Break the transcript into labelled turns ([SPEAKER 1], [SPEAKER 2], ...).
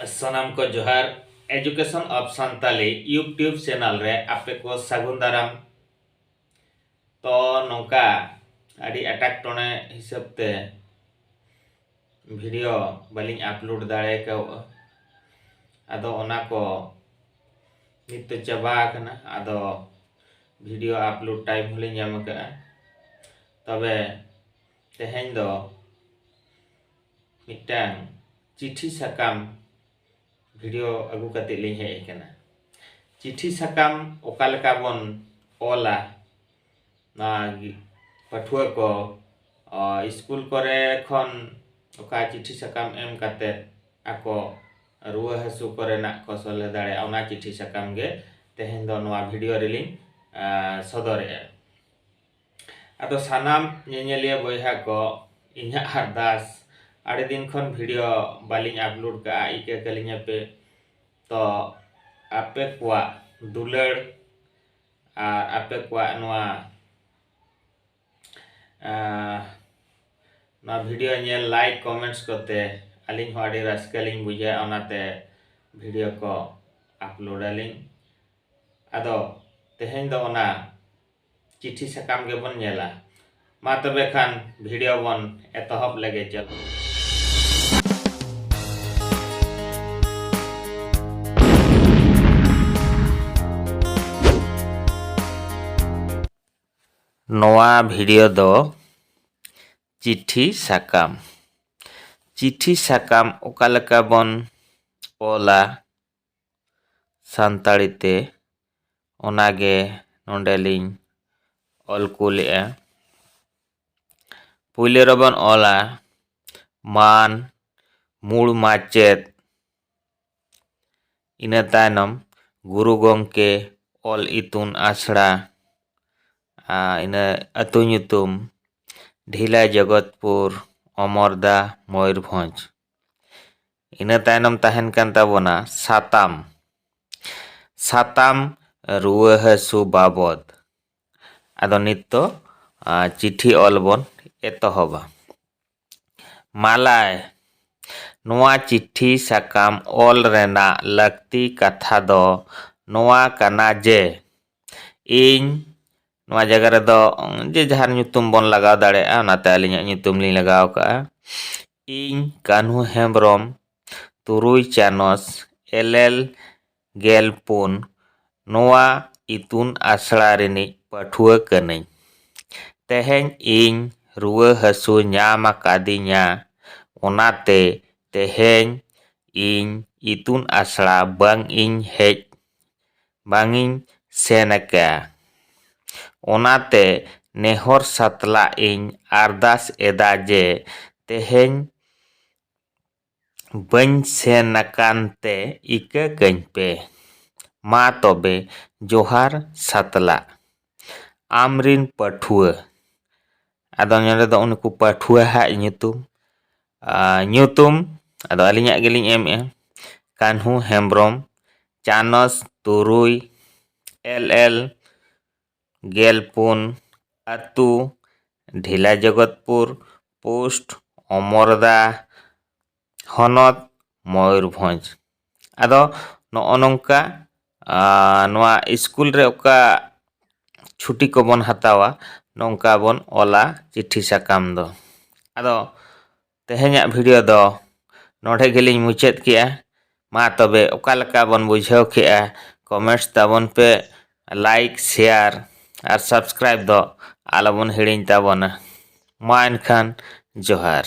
[SPEAKER 1] ᱥᱟᱱᱟᱢ ᱠᱚ ᱡᱚᱦᱟᱨ education of Santali YouTube channel ᱨᱮ ᱟᱯᱮ ᱠᱚ ᱥᱟᱹᱜᱩᱱ ᱫᱟᱨᱟᱢ ᱛᱚ ᱱᱚᱝᱠᱟ ᱟᱹᱰᱤ ᱮᱴᱟᱜ ᱴᱚᱬᱮ ᱦᱤᱥᱟᱹᱵ ᱛᱮ ᱵᱷᱤᱰᱤᱭᱳ ᱵᱟᱹᱞᱤᱧ ᱟᱯᱞᱳᱰ ᱫᱟᱲᱮ ᱠᱟᱣᱜᱼᱟ ᱟᱫᱚ ᱚᱱᱟ ᱠᱚ ᱱᱤᱛ ᱫᱚ ᱪᱟᱵᱟ ᱟᱠᱟᱱᱟ ᱟᱫᱚ ᱵᱷᱤᱰᱤᱭᱳ ᱟᱯᱞᱳᱰ ᱴᱟᱭᱤᱢ ᱦᱚᱸᱞᱤᱧ ᱧᱟᱢ ᱟᱠᱟᱫᱼᱟ ᱛᱚᱵᱮ ᱛᱮᱦᱮᱧ ᱫᱚ ᱢᱤᱫᱴᱟᱝ ᱪᱤᱴᱷᱤ ᱥᱟᱠᱟᱢ ᱵᱷᱤᱰᱤᱭᱳ ᱟᱹᱜᱩ ᱠᱟᱛᱮᱫ ᱞᱤᱧ ᱦᱮᱡ ᱟᱠᱟᱱᱟ ᱪᱤᱴᱷᱤ ᱥᱟᱠᱟᱢ ᱚᱠᱟ ᱞᱮᱠᱟ ᱵᱚᱱ ᱚᱞᱟ ᱱᱚᱣᱟ ᱯᱟᱹᱴᱷᱩᱣᱟᱹ ᱠᱚ ᱥᱠᱩᱞ ᱠᱚᱨᱮ ᱠᱷᱚᱱ ᱚᱠᱟ ᱪᱤᱴᱷᱤ ᱥᱟᱠᱟᱢ ᱮᱢ ᱠᱟᱛᱮᱫ ᱟᱠᱚ ᱨᱩᱣᱟᱹ ᱦᱟᱹᱥᱩ ᱠᱚᱨᱮᱱᱟᱜ ᱠᱚ ᱥᱚᱞᱦᱮ ᱫᱟᱲᱮᱭᱟᱜᱼᱟ ᱚᱱᱟ ᱪᱤᱴᱷᱤ ᱥᱟᱠᱟᱢ ᱜᱮ ᱛᱮᱦᱮᱧ ᱫᱚ ᱱᱚᱣᱟ ᱵᱷᱤᱰᱤᱭᱳ ᱨᱮᱞᱤᱧ ᱥᱚᱫᱚᱨᱮᱫᱼᱟ ᱟᱫᱚ ᱥᱟᱱᱟᱢ ᱧᱮᱧᱮᱞᱤᱭᱟᱹ ᱵᱚᱭᱦᱟ ᱠᱚ ᱤᱧᱟᱹᱜ ᱟᱨᱫᱟᱥ ᱟᱹᱰᱤ ᱫᱤᱱ ᱠᱷᱚᱱ ᱵᱷᱤᱰᱤᱭᱳ ᱵᱟᱹᱞᱤᱧ ᱟᱯᱞᱳᱰ ᱠᱟᱜᱼᱟ ᱤᱠᱟᱹ ᱠᱟᱹᱞᱤᱧᱟ ᱯᱮ ᱛᱚ ᱟᱯᱮ ᱠᱚᱣᱟᱜ ᱫᱩᱞᱟᱹᱲ ᱟᱨ ᱟᱯᱮ ᱠᱚᱣᱟᱜ ᱱᱚᱣᱟ ᱱᱚᱣᱟ ᱵᱷᱤᱰᱤᱭᱳ ᱧᱮᱞ ᱞᱟᱭᱤᱠ ᱠᱚᱢᱮᱱᱴᱥ ᱠᱚᱛᱮ ᱟᱹᱞᱤᱧ ᱦᱚᱸ ᱟᱹᱰᱤ ᱨᱟᱹᱥᱠᱟᱹ ᱞᱤᱧ ᱵᱩᱡᱷᱟᱹᱣᱟ ᱚᱱᱟᱛᱮ ᱵᱷᱤᱰᱤᱭᱳ ᱠᱚ ᱟᱯᱞᱳᱰ ᱟᱹᱞᱤᱧ ᱟᱫᱚ ᱛᱮᱦᱮᱧ ᱫᱚ ᱚᱱᱟ ᱪᱤᱴᱷᱤ ᱥᱟᱠᱟᱢ ᱜᱮᱵᱚᱱ ᱧᱮᱞᱟ ᱢᱟ ᱛᱚᱵᱮ ᱠᱷᱟᱱ ᱵᱷᱤᱰᱤᱭᱳ ᱵᱚᱱ ᱮᱛᱚᱦᱚᱵ ᱞᱮᱜᱮ ᱪᱚᱞᱚ ᱱᱚᱣᱟ ᱵᱷᱤᱰᱤᱭᱳ ᱫᱚ ᱪᱤᱴᱷᱤ ᱥᱟᱠᱟᱢ ᱪᱤᱴᱷᱤ ᱥᱟᱠᱟᱢ ᱚᱠᱟ ᱞᱮᱠᱟ ᱵᱚᱱ ᱚᱞᱟ ᱥᱟᱱᱛᱟᱲᱤ ᱛᱮ ᱚᱱᱟ ᱜᱮ ᱱᱚᱸᱰᱮ ᱞᱤᱧ ᱚᱞ ᱠᱩᱞᱮᱜᱼᱟ ᱯᱩᱭᱞᱳ ᱨᱮᱵᱚᱱ ᱚᱞᱟ ᱢᱟᱱ ᱢᱩᱬ ᱢᱟᱪᱮᱫ ᱤᱱᱟᱹ ᱛᱟᱭᱱᱚᱢ ᱜᱩᱨᱩ ᱜᱚᱢᱠᱮ ᱚᱞ ᱤᱛᱩᱱ ᱟᱥᱲᱟ ᱤᱱᱟᱹ ᱟᱹᱛᱩ ᱧᱩᱛᱩᱢ ᱰᱷᱤᱞᱟ ᱡᱚᱜᱚᱛᱯᱩᱨ ᱚᱢᱚᱨᱫᱟ ᱢᱚᱭᱩᱨᱵᱷᱚᱸᱡᱽ ᱤᱱᱟᱹ ᱛᱟᱭᱱᱚᱢ ᱛᱟᱦᱮᱱ ᱠᱟᱱ ᱛᱟᱵᱚᱱᱟ ᱥᱟᱛᱟᱢ ᱥᱟᱛᱟᱢ ᱨᱩᱣᱟᱹ ᱦᱟᱹᱥᱩ ᱵᱟᱵᱚᱫ ᱟᱫᱚ ᱱᱤᱛ ᱫᱚ ᱪᱤᱴᱷᱤ ᱚᱞ ᱵᱚᱱ ᱮᱛᱚᱦᱚᱵᱟ ᱢᱟᱞᱟᱭ ᱱᱚᱣᱟ ᱪᱤᱴᱷᱤ ᱥᱟᱠᱟᱢ ᱚᱞ ᱨᱮᱱᱟᱜ ᱞᱟᱹᱠᱛᱤ ᱠᱟᱛᱷᱟ ᱫᱚ ᱱᱚᱣᱟ ᱠᱟᱱᱟ ᱡᱮ ᱤᱧ ᱱᱚᱣᱟ ᱡᱟᱭᱜᱟ ᱨᱮᱫᱚ ᱡᱮ ᱡᱟᱦᱟᱨ ᱧᱩᱛᱩᱢ ᱵᱚᱱ ᱞᱟᱜᱟᱣ ᱫᱟᱲᱮᱭᱟᱜᱼᱟ ᱚᱱᱟᱛᱮ ᱟᱹᱞᱤᱧᱟᱜ ᱧᱩᱛᱩᱢ ᱞᱤᱧ ᱞᱟᱜᱟᱣ ᱠᱟᱜᱼᱟ ᱤᱧ ᱠᱟᱹᱱᱦᱩ ᱦᱮᱢᱵᱨᱚᱢ ᱛᱩᱨᱩᱭ ᱪᱟᱱᱟᱪ ᱮᱞᱮᱞ ᱜᱮᱞ ᱯᱩᱱ ᱱᱚᱣᱟ ᱤᱛᱩᱱ ᱟᱥᱲᱟ ᱨᱤᱱᱤᱡ ᱯᱟᱹᱴᱷᱩᱣᱟᱹ ᱠᱟᱹᱱᱟᱹᱧ ᱛᱮᱦᱮᱧ ᱤᱧ ᱨᱩᱣᱟᱹ ᱦᱟᱹᱥᱩ ᱧᱟᱢ ᱟᱠᱟᱫᱤᱧᱟ ᱚᱱᱟᱛᱮ ᱛᱮᱦᱮᱧ ᱤᱧ ᱤᱛᱩᱱ ᱟᱥᱲᱟ ᱵᱟᱝ ᱤᱧ ᱦᱮᱡ ᱵᱟᱝ ᱤᱧ ᱥᱮᱱ ᱟᱠᱟ᱾ ᱚᱱᱟᱛᱮ ᱱᱮᱦᱚᱨ ᱥᱟᱛᱞᱟᱜ ᱤᱧ ᱟᱨᱫᱟᱥ ᱮᱫᱟ ᱡᱮ ᱛᱮᱦᱮᱧ ᱵᱟᱹᱧ ᱥᱮᱱ ᱟᱠᱟᱱ ᱛᱮ ᱤᱠᱟᱹ ᱠᱟᱹᱧ ᱯᱮ᱾ ᱢᱟ ᱛᱚᱵᱮ ᱡᱚᱦᱟᱨ ᱥᱟᱛᱞᱟᱜ᱾ ᱟᱢ ᱨᱤᱱ ᱯᱟᱹᱴᱷᱩᱣᱟᱹ᱾ ᱟᱫᱚ ᱱᱚᱰᱮ ᱫᱚ ᱩᱱᱠᱩ ᱯᱟᱹᱴᱷᱩᱣᱟᱹ ᱦᱟᱜ ᱧᱩᱛᱩᱢ ᱧᱩᱛᱩᱢ ᱟᱫᱚ ᱟᱹᱞᱤᱧᱟᱜ ᱜᱮᱞᱤᱧ ᱮᱢᱮᱜᱼᱟ ᱠᱟᱹᱱᱦᱩ ᱦᱮᱢᱵᱨᱚᱢ ᱪᱟᱱᱚᱪ ᱛᱩᱨᱩᱭ ᱮᱞ ᱮᱞ ᱜᱮᱞ ᱯᱩᱱ ᱟᱹᱛᱩ ᱰᱷᱮᱞᱟ ᱡᱚᱜᱚᱛᱯᱩᱨ ᱯᱳᱥᱴ ᱚᱢᱚᱨᱫᱟ ᱦᱚᱱᱚᱛ ᱢᱚᱭᱩᱨᱵᱷᱚᱸᱡᱽ ᱟᱫᱚ ᱱᱚᱜᱼᱚ ᱱᱚᱝᱠᱟ ᱱᱚᱣᱟ ᱤᱥᱠᱩᱞ ᱨᱮ ᱚᱠᱟ ᱪᱷᱩᱴᱤ ᱠᱚᱵᱚᱱ ᱦᱟᱛᱟᱣᱟ ᱱᱚᱝᱠᱟ ᱵᱚᱱ ᱚᱞᱟ ᱪᱤᱴᱷᱤ ᱥᱟᱠᱟᱢ ᱫᱚ ᱟᱫᱚ ᱛᱮᱦᱮᱧᱟᱜ ᱵᱷᱤᱰᱤᱭᱳ ᱫᱚ ᱱᱚᱰᱮ ᱜᱮᱞᱤᱧ ᱢᱩᱪᱟᱹᱫ ᱠᱮᱫᱼᱟ ᱢᱟ ᱛᱚᱵᱮ ᱚᱠᱟ ᱞᱮᱠᱟ ᱵᱚᱱ ᱵᱩᱡᱷᱟᱹᱣ ᱠᱮᱫᱼᱟ ᱠᱚᱢᱮᱱᱴᱥ ᱛᱟᱵᱚᱱ ᱯᱮ ᱞᱟᱭᱤᱠ ᱥᱮᱭᱟᱨ ᱟᱨ ᱥᱟᱵᱥᱠᱨᱟᱭᱤᱵᱽ ᱫᱚ ᱟᱞᱚᱵᱚᱱ ᱦᱤᱲᱤᱧ ᱛᱟᱵᱚᱱᱟ ᱢᱟ ᱮᱱᱠᱷᱟᱱ ᱡᱚᱦᱟᱨ